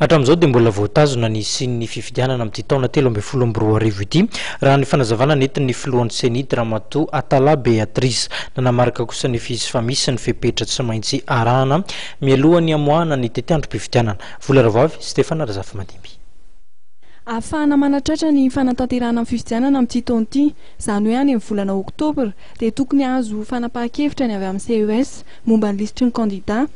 Hatramin'izao dia mbola voatazona ny hisian'ny fifidianana amin'ity taona telo ambin'ny folo amby roa arivo ity, raha ny fanazavana nentin'ny filohan'ny Ceni, Dramatoa Atala Beatrice. Nanamarika kosa ny FIGC fa misy ny fepetra tsy maintsy arahana mialoha ny hamoahana ny tetiandrom-pifidianana. Vola Rahavavy, Stephane Razafimadimby. Ahafahana manatratra ny fanatanterahana ny fifidianana amin'ity taona ity, izany hoe any amin'ny volana oktobra, dia tokony hahazo fanapahan-kevitra ny avy amin'ny ces momba ny lisitry ny kandidà.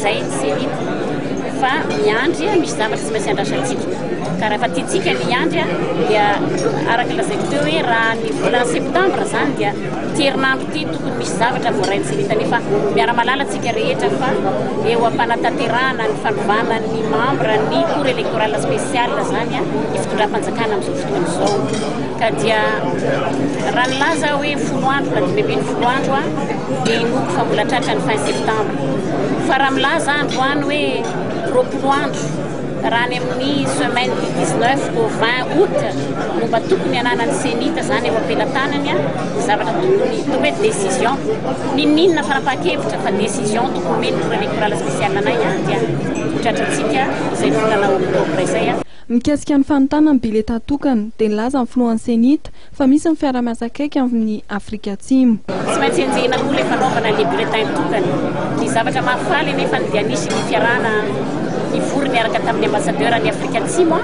Zay ny Céline fa miandry a, misy zavatra tsy maintsy andrasantsika. Ka raha efa tiantsika ny hiandry a, dia araka ny lazaiko teo hoe raha ny volana septambra zany dia ity herinandro ity tokony misy zavatra voarain'i Céline kanefa miara-mahalala tsika rehetra fa eo am-panatanterahana ny fanovana ny membre ny cour électorale spécial zany a, ny fitondram-panjakana amin'izao fotoana izao. Ka dia raha nilaza aho hoe folo andro na dimy ambin'ny folo andro a, dia inoako fa mbola tratra ny fin septambra. Fa raha milaza androany hoe roapolo andro raha any amin'ny semaine du 19 au 20 aout no mba tokony ananan'ny Cenit izany eo am-pelatanany ny zavatra tokony toa hoe décision, n'inon'inona fanapahan-kevitra fa décision tokony omen'ny Bureau électoral spécial anay ihany dia ho tratrantsika izay volana oktobra izay. Mikasika ny fanontana ny biletà tokana dia nilaza ny filohan'ny Cenit Fa misy ny fiarahamiasa akaiky amin'ny Afrika Atsimo. Tsy maintsy enjehina koa ilay fanaovana les bulletins tokana. Ny zavatra mahafaly anefa dia nisy ny fiarahana nivory niaraka tamin'ny Ambassadeur any Afrika Atsimo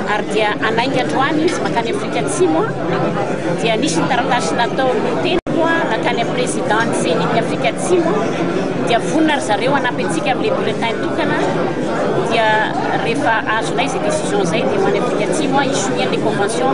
ary dia hanainga androany izy mankany Afrika Atsimo dia nisy ny taratasy nataon'ny teniko nankany amin'ny Président ny Ceni ny Afrika Atsimo dia vonona ry zareo hanampy antsika amin'ny les bulletins tokana dia rehefa azonay izay décision izay dia ho any Afrika Atsimo hisonia ilay convention